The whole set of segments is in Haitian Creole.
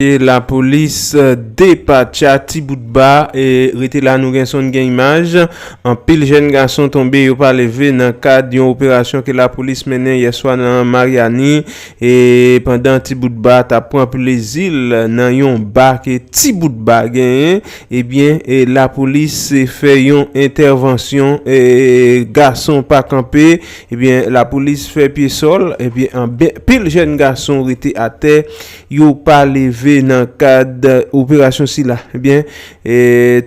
E la polis depatcha ti bout ba e rete la nou gen son gen imaj anpil jèn gason tonbe yo pa leve nan kad yon operasyon ke la polis mennen yè swa nan Maryani e pandan ti bout ba tap pran plezil nan yon ba ke ti bout ba genyen ebyen e la polis se fè yon entèvansyon e gason pa kanpe ebyen la polis fè pye sòl ebyen anbyen pil jèn gason rete atè. yo pa leve nan kad operasyon sila. Ebyen,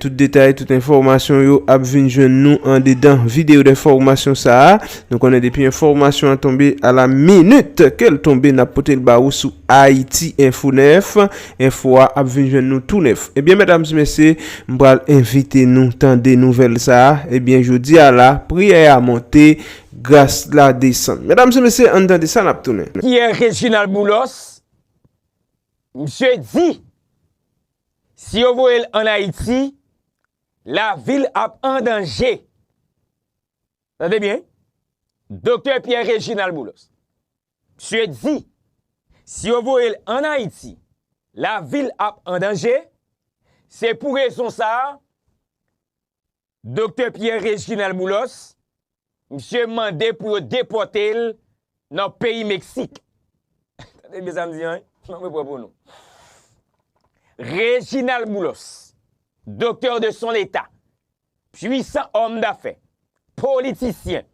tout detay, tout enfòmasyon yo ap vin jwenn nou andedan videyo denfòmasyon sa a. Nou konnen depi enfòmasyon an tonbe a la minit ke l tonbe n ap pote l ba ou sou Ayiti Enfo 9. Enfo a ap vin jwenn nou tou nèf. Ebyen medam e mesye, m pral envite nou tande nouvèl sa a. Ebyen jodi a la, priyè a monte, gras la desann. Medam e mesye, ann tande sa n ap tounen. Pierre Reginald Boulos Fox, misye di, si yo voye l an Ayiti, lavi l ap an danje. Tande byen, Doktè Pierre Reginald Boulos, misye di, si yo voye l an Ayiti, lavi l ap an danje, se pou rezon sa a, Doktè Pierre Reginald Boulos, misye mande pou yo depòte l nan peyi Meksik. Tande byen sa m di an wi, m ap repran pou nou. Reginald Boulos, doktè de son eta, pwisan òm dafè, politisyen,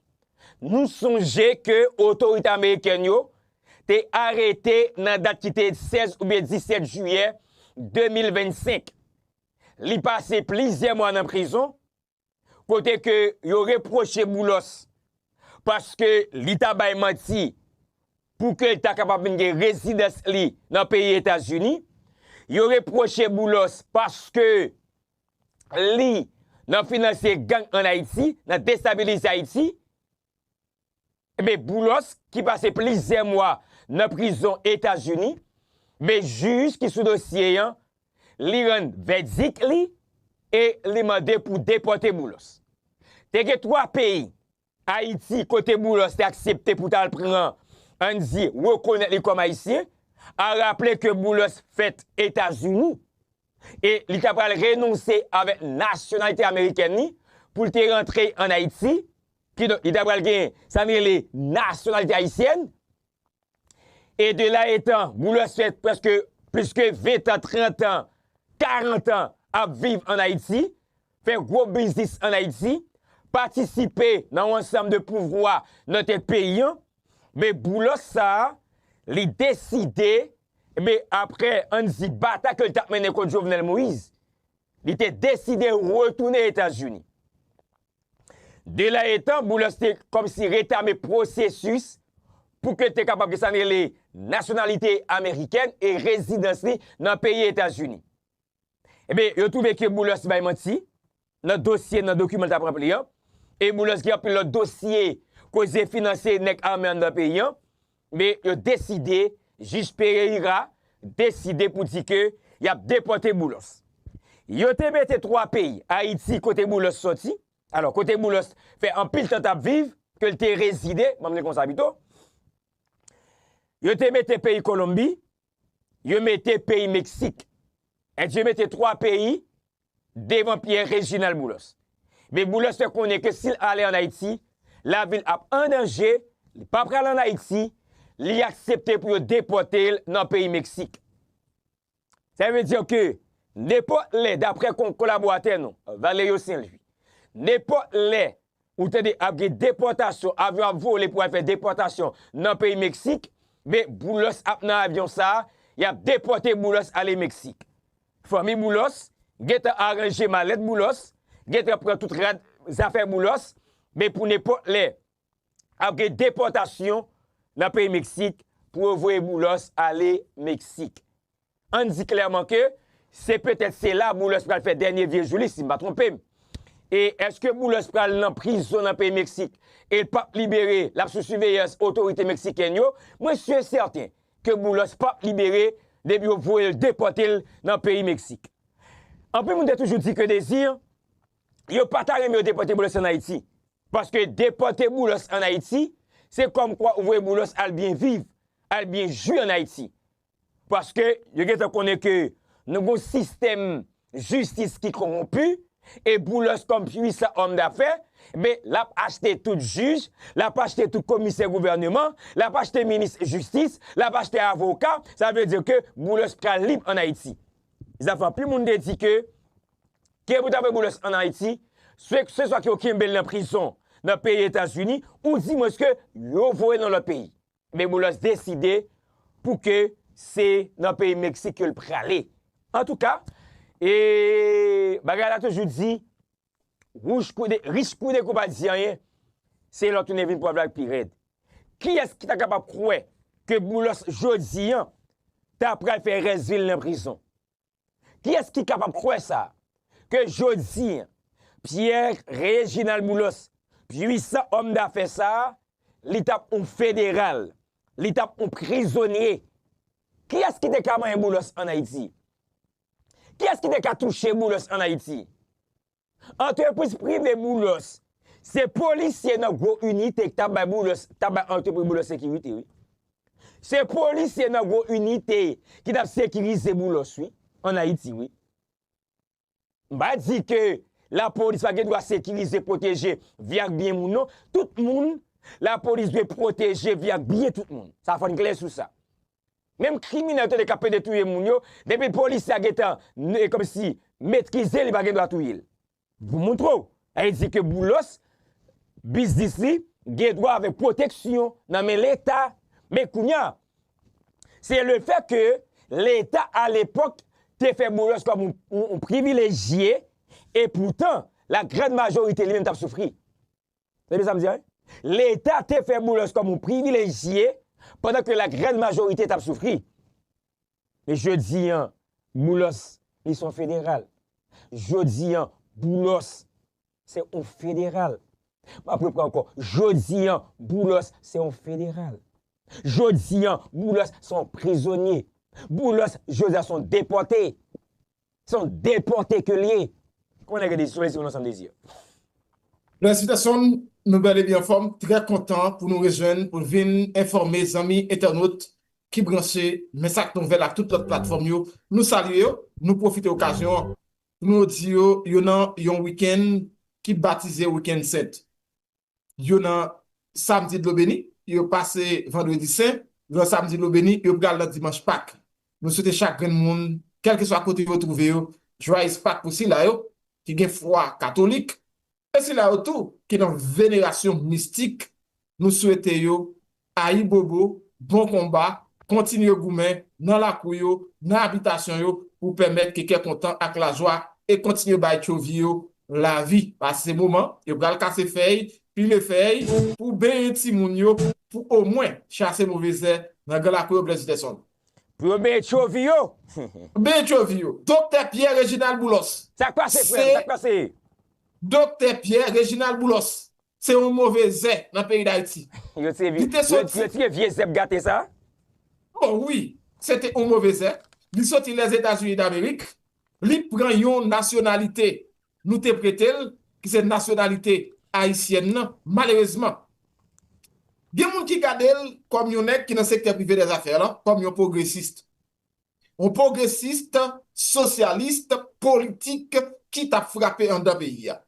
nou sonje ke otorite amerikèn yo te arete nan dat ki te 16 oubyen 17 jiyè 2025, Li pase plizyè mwa nan prizon kote ke yo repwoche Boulos paske li ta bay manti pou ke l ta kapab vin gen rezidans li nan peyi Etazini. Yo repwoche Boulos paske li nan finanse gang an Ayiti, nan destabilize Ayiti. Enben Boulos ki pase plizyè mwa nan prizon Etazini, enben jij ki sou dosye an li rann vèdik li e li mande pou depòte Boulos. Te gen 3 peyi, Ayiti kote Boulos te aksepte pou tal pran ann di rekonèt li kòm ayisyen, a raple ke Boulos fèt Etazini e li ta pral renonse avèk nasyonalite amerikèn li pou l te rantre ann Ayiti Kidonk, li ta pral gen sa n rele nasyonalite ayisyèn. E de la etan, Boulos fè prèske plis ke ventan, trantan, karantan ap viv ann Ayiti, fè gwo biznis ann Ayiti, patisipe nan yon ansanm de pouvwa nan tèt peyi an. Men Boulos sa a, li deside, enben, apre an n di batay ke l t ap mennen kont Jovenel Moïse, li te deside retounen Etazini. Delè etan, Boulos te kòmsi retame pwosesis pou ke l te kapab gen sa n rele nasyonalite amerikèn e rezidans li nan peyi Etazini. Enben, yo twouve ke Boulos bay manti nan dosye, nan dokiman l t ap ranpli an, e Boulos gen anpil lòt dosye koze finanse nèg ame anndan peyi an, Men yo deside, Jij Pereira deside pou di ke y ap depòte Boulos. Yo te mete 3 peyi, Ayiti kote Boulos sòti, alò kote Boulos fè anpil tan t ap viv, ke l te rezide, banm di konsa pito, yo te mete peyi Kolonbi, yo mete peyi Meksik. Èd yo mete 3 peyi devan Pierre Réginald Boulos. Men Boulos fè konnen ke si l ale an Ayiti, lavi l ap an danje, li pa pral an Ayiti, li aksepte pou yo depòte l nan peyi Meksik. Sa vle di ke nenpòt lè, daprè kolaboratè nou, Valerio Saint-Louis, nenpòt lè ou tande ap gen depòtasyon, avyon ap vole pou al fè depòtasyon nan peyi Meksik, men Boulos ap nan avyon sa, y ap depòte Boulos ale Meksik. Fanmi Boulos gentan aranje malèt Boulos gentan pran tout rad zafè Boulos men pou nenpòt lè ap gen depòtasyon nan peyi Meksik pou yo voye Boulos ale Meksik. Ann di klèman ke se petèt se la Boulos pral fè dènye vye jou li si m pa twonpe m. E èske Boulos pral nan prizon nan peyi Meksik e l pap libere l ap sou siveyans otorite Meksikèn yo? Mwen si e sèten ke Boulos pap libere depi yo voye l depòte l nan peyi Meksik. Anpil moun te toujou di ke dezi yo pa ta renmen yo depòte Boulos ann Ayiti, paske depòte Boulos ann Ayiti se kòmkwa ou voye Boulos al byen viv, al byen jwi ann Ayiti. Paske yo gentan konnen ke nou gen yon sistèm jistis ki konronpi e Boulos kòm pwisan òm dafè, enben l ap achte tout jij, l ap achte tout komisè gouvèneman, l ap achte minis jistis, l ap achte avoka, sa vle di ke Boulos pral lib an Ayiti. Zafè anpil moun te di ke ke pou ta vwe Boulos an Ayiti, se se swa ke yo kenbe l nan prizon nan peyi Etazini, ou di mwens ke yo voye l nan lòt peyi. Men Boulos deside pou ke se nan peyi Meksik ke l prale. Antouka, e bagay la toujou di, wouj kou de, rich kou de kou pa di anyen, se lò tounen vin pwòv la k pi rèd. Kiyès ki ta kapab kwè ke Boulos jodi an ta pral fè rès vi l nan prizon? Kiyès ki kapab kwè sa, ke jodi, Pierre Réginald Boulos, pwisan òm dafè sa, li t ap yon federal, li t ap yon prizonye? Kiyès ki te ka manyen Boulos an Ayiti? Kiyès ki te ka touche Boulos an Ayiti? Antrepriz prive Boulos se polisye nan gwo inite ki ta bay Boulos, ta bay antrepriz Boulos sekirite wi. Se polisye nan gwo inite ki tap sekirize Boulos wi, an Ayiti wi. M pa di ke lapolis pa gen dwa sekirize, pwoteje vi ak byen moun non, tout moun lapolis dwe pwoteje vi ak byen tout moun. Sa fòn klè sou sa. Menm kriminèl tande kap pede touye moun yo depi polisye a gentan komsi metrizel li pa gen dwa touyel. Pou moutrew. Sa vle di ke Boulos biznis li gen dwa avèk pwoteksyon nan men leta. Men kounya se le fè ke leta a lepòk te fè Boulos kòm yon privilejye e poutan la grand majorite li menm tap soufri. Tande sa m di a wi. Leta te fè Boulos kòm yon privilejye pandan ke la grand majorite t ap soufri. Men jodi an, Boulos li se yon federal. Jodi an, Boulos se yon federal. M ap repran ankò, jodi an, Boulos se yon federal. Jodi an, Boulos se yon prizonye. Boulos jodi a se yon depòte. Se yon depòte ke l ye. Kòman nèg yo te izole se yon ansanm dezi yo. Merci Tayson, nou bel e byen anfom, trè kontan pou nou rejwenn pou n vin enfòme zanmi entènot ki branche men sak nouvèl ak tout lòt platfòm yo, nou salye yo, nou pwofite okazyon an pou nou di yo yo nan yon wikenn ki batize wikenn sent. yo nan Samdi dlo beni, yo pase Vandredi sen, yo nan Samdi dlo beni, yo pral nan Dimanch Pak. Nou swete chak grenn moun, kèlkeswa kote yo twouve yo, Jwayez Pak pou sila yo ki gen fwa katolik e sila yo tou ki nan venerasyon mistik, nou swete yo Ayibobo, bon konba, kontinye goumen nan lakou yo, nan abitasyon yo pou pèmèt ke kè kontan ak lajwa e kontinye bay tchovi yo lavi. Pase se moman yo pral kase fèy, pile fèy pou benyen timoun yo pou omwen chase move zè nan gran lakou yo Blaise Peterson. Pou yo benyen tchovi yo. Benyen tchovi yo. Doktè Pierre Reginald Boulos. Sa k pase frè m? Sa k pase? Doktè Pierre Reginald Boulos. se yon move zè nan peyi dayiti. Yo tire vye, yo tire vye zèb gate sa? O wi, se te yon move zè. Li soti Lèzetazini Damerik, li pran yon nasyonalite nou te prete l, ki se nasyonalite ayisyèn nan, malerezman. Gen moun ki gade l kòm yon nèg ki nan sektè prive dèzafè lan, kòm yon pwogresist. yon pwogresist, sosyalist, politik ki t ap frape anndan peyi a.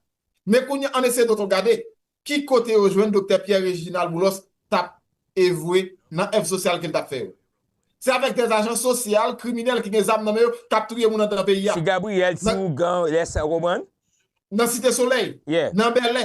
Men kounye a, ann eseye tonton gade ki kote yo jwenn Doktè Pierre Réginald Boulos t ap evwe nan èv sosyal ke l t ap fè yo. Se avèk dè ajan sosyal, kriminèl ki gen zam nan men yo k ap touye moun anndan peyi a. Ti Gabriel, ti Ougan, lè sa w konprann? Nan Site Solèy, nan Bèlè.